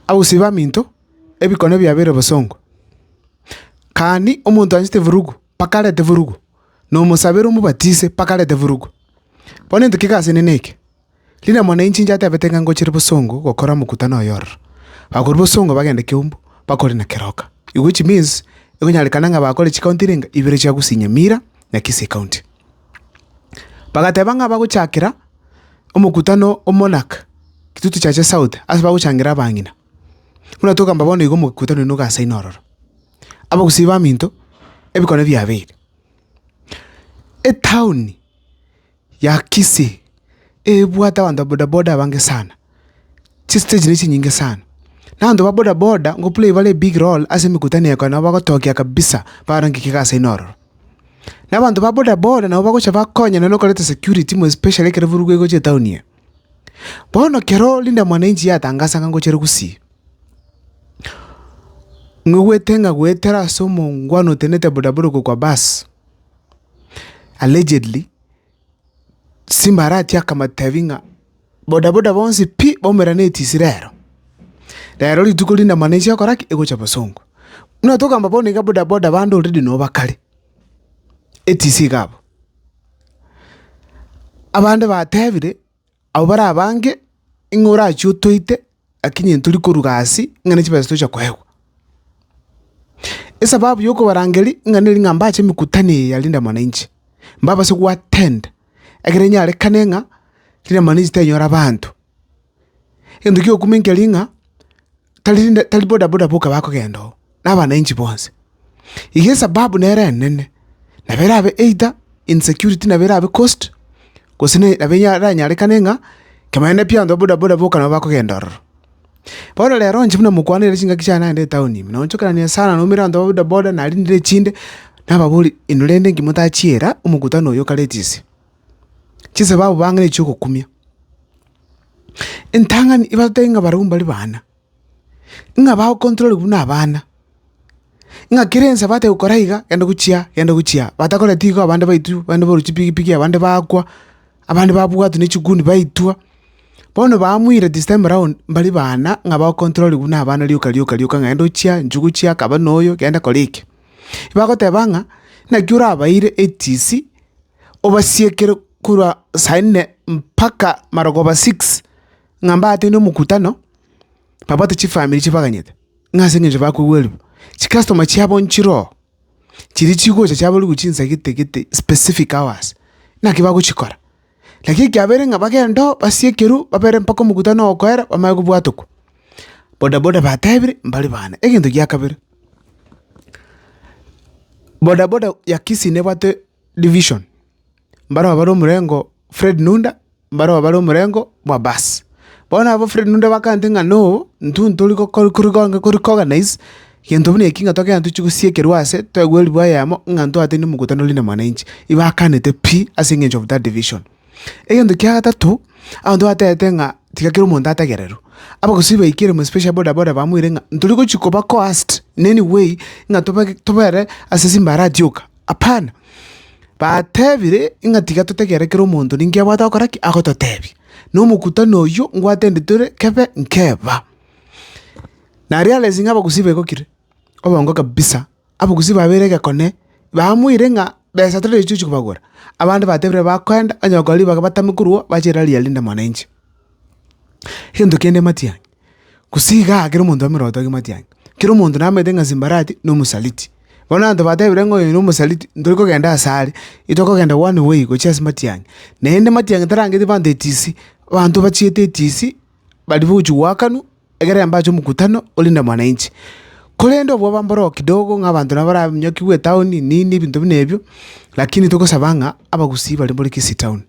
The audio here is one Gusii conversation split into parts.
Abusie baminto, ebikone biabo bire bosongo. Kani omonto anchete eburugu, mpaka arete eburugu, na omosaberi omobatise, mpaka arete eburugu. Bono into ki'egasi enene eke! Riremwa na inche inchateebete ng'a ngochire bosongo gokora omokutano oye ororo. Bakoria bosongo bagende Keumbu, bakore na Keroka. Which means, ekonyarekana ng'a bakore chicounty renga, ibere chia Gusinya Mira na Kisii County. Bagateba ng'a bagochakera omokutano o monarch Kitutu Church South ase bagochangera abang'ina. Buna togamba bono igo omokutano oino ogasaine ororo. Abagusii baminto, ebikone biabeire. Etown ya Kisii. ebwate abanto ba bodaboda abange sana, chisteji ne chinyinge sana. Na abanto ba bodaboda ngoplay bare ebig roll ase emekutano eye ekero nabo bagotokia kabisa barange ikiga ase aywo ororo. Na abanto ba bodaboda nabo bagocha bakonye nonye nokoreta security more especially ekero eburugu egocha etown eye. Bono kero Linda Mwananchi yatangasa ng'a ngochire gusii, ng'a egwete ng'a goetera ase omongwana otenete bodaboda okwo kwa bus, allegedly. Simbarati akamotebi ng'a boda boda bonsi pi baumera netisi rero. Rero rituko rinde mani ase ogokora ki? Egocha bosongo. Buna togamba bono iga boda boda bande already no bakare, etisi iga abo. Abande batebire. Abwo bare abange, ing'o orachie otoite, lakini intwe rikoruga aase, ng'a ne chibesa tocha koegwa? Esababu y'okobarangeria ng'a neri ng'a mbache emekutano eye ya Linda Mwananchi, mbabase goattend, ekere nyarekane ng'a Linda Mwananchi tenyora abanto. Egento gi'okumenya keri ng'a. tari rinde tari bodaboda boka bakogenda oo, na abananchi bonsi. Iga esababu nere enene, nabo erabe either insecurity nabo erabe caused, gose ne nabo eranyarekane ng'a kebanyakorende pi abanto ba bodaboda boka nabo bakogenda ororo. Bono rero inche buna mokwane ere chingaki chiane naende etaoni ime, noonchokeranie sana noumera abanto ba bodaboda narindire chinde, nababorie inwe rende inki motachiira omokutano oyo o kare etisi. Chisabau bang'ana echi'ogokumia, entang'ani ebatebie ng'a barabwo mbare baana, ng'a bagokontororigwa buna abana, ng'a kera ense batagete gokora iga, genda gochia aa, genda gochia aa. Batakoreti abande igo abande baitw, abande baru chipigipigi, abande bakwa, abande babwatwa ne chiguni baitwa. Bono bamwire this time round mbare baana ng'a bagokontororigwa buna abana rioka rioka rioka ng'a genda ochie aa, nchuga ochie aa, kaba noyo, genda kora eke. Bagoteba ng'a naki orabaeire etisi. obasiekere korwa saa inne mpaka marogoba six, ng'a mbateine omokutano, babwate chifamiri chibaganyete, ng'a ase eng'encho bakogwerwa. Chikastoma chiabo nchire oo, chiria chigocha chiaborigwe chinsa gete gete specific hours, naki bagochikora. Lakini ekiabeire ng'a bagende oo, basiekerwe, babere mpaka omokutano okoera, bamanye kobwatokwa. Boda boda batebire, mbari bane. Egento gia kabere, boda boda ya Kisii nebwate. division, mbarabwo bare omorengo Fred Nunda, mbarabwo bare omorengo bwa bass. Bono abwo Fred Nunda bakante ng'a no, intwe ntori gokor- kori gonge kori koganais, gento buna eki ng'a togende tochi gosiekerwa ase, toegwe ribwa eyemo ng'a ntwate ne mkutano Linda Mwananchi. Ibakanete pi ase eng'encho of that division. Egento kia gatato, abanto batebete ng'a tiga kera omonto ategererwe. Abagusii baikire ime especially boda boda bamoire ng'a ntori gochi koba coerced in any way ng'a tobe tobere ase chimbaara tioka. Hapana! Batebire ng'a tiga totegerere kera omonto ninki abwate gokora ki agototebia, na omokutano oyio ngwatende tore kebe nkeba. Na realizing abagusii begokire obongo kabisa, abagusii babeire egekone, bamoire ng'a besa tari echi tochi kobagora, abande batebire bakoenda onye gokora ribaga batame korwa bache erari ya Linda Mwananchi. Egento kende matiang', gose igaa ekero omonto ameroti ake matiang', ekero omonto namanyete ng'a simbarati na omosaliti. Bono abanto batebire ng'a oyo nomosaliti, ntori kogenda asare, itokogenda one way gochia ase matiang'i. Naende matiang'i tarangeti abanto etisi, abanto bachiete etisi, baria bogochi goakanwa. Egere embache omokutano, orinde mwananchi. Korende obwabambe oro kidogo ng'a abanto nabo baranyokigwe etaoni nini ebinto buna ebio, lakini togosaba ng'a abagusii baria mbore Kisii town,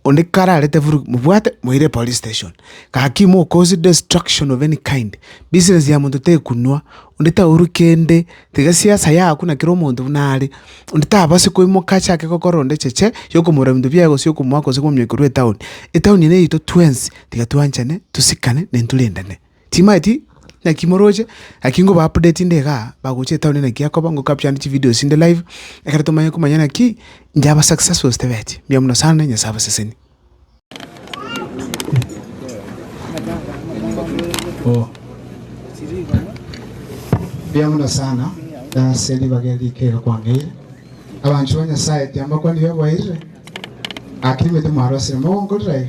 onde kararete vurugu mobwate moire police station. Gaki mokosi destruction of any kind, business ya monto tekunwa, onde taurwe kende, tiga siasa yago na kera omonto buna are. Onde tabase koimoka achake gokora onde cheche, yokomorora ebinto biaye gose yokomoa gose komonyokia korwa etaoni. Etaoni eye neito twensi. tiga twanchane, tosikane, na intwe rendane. Timaeti naki moroche, naki ngoba update nde igaa, bagocha etown naki akoba, ngo capture chi videos chinde live, ekero tomanye komanya naki, inche aba successful gose tebeti. Mbuya mono sana, Nyasaye abaseseni. Mbuya mono sana, ase ribaga eri rikeiga kwang'eire. Abanchwa ba Nyasaye, tiambakwanirie oboeire, naki nimete mwarosire, mogonkorire aye,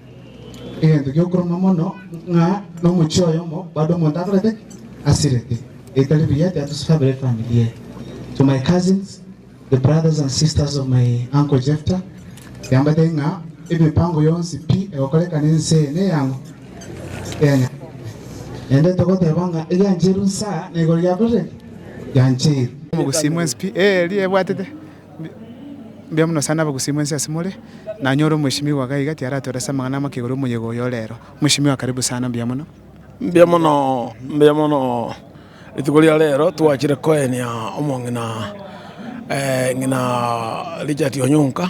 Egento gi'okoruma mono ng'a nomochie oyomo bado omonto akorete asirete, ebitari biya tiatoseti kabere efamiri eye. To my cousins, the brothers and sisters of my uncle Jefta, yambatete ng'a emipango yonsi pi egokoreka nense eye neyang'u eya Nyasae. Naende togoteba ng'a egiancheirwe inse aa na igoro giakorire ki? Giancheirwe. Omogusii mwensi pi eeri ebwatete. Mbuya mono sana abagusii mwensi ase more, nanyore omweshimiwa iga iga tiaratorese amang'ana amake igoro omoyega oyo ore ero. Mweshimiwa karibu sana mbuya mono. Mbuya mono mbuya mono rituko ria rero twachire koenia omong'ina ng'ina Richard Onyonka.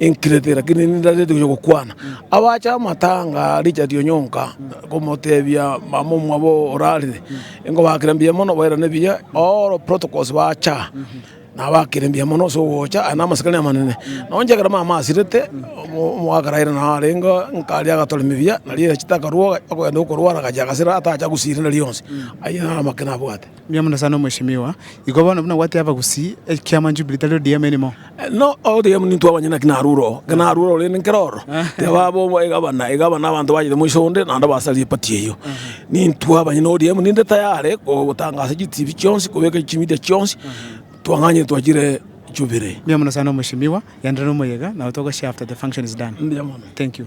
Enkirete, lakini nindareti gochia gokwana. Abache amatanga Richard Onyonka komotebia mama omwabo orarire, nkobakera mbuya mono bairane buya, all protocols bacha nabakire mbuya mono ase ogocha, aye na amasikani amanene. Nonya ekero mama asirete, omogaka Raila naro arenge, nkaria agatoremi buya, nario erachete akarua, okogenda okorwara agachia agasira atacha gusira rionsi. Ayio naro amang'ana abwate. Mbuya mono sana omweshimiwa. Igo bono buna gwatiga abagusii ekiama Jubilee tari ODM erimo. No ogotiga ekiama nintwe abanyene naki narure oo. Ekero narure ororo rende nkere ororo tiga baba egabana, egabana abanto bachete moiso onde naende basaria eparty eyio. Nintwe abanyene ODM ninde tayare gotangasa chitibi chionsi kobeka chimedia chionsi twang'anyire twachire Jubilee. Mbuya mono sana omweshimiwa. Genderera omoyega nabo togoshare after the function is done. Mbuya mono. Thank you.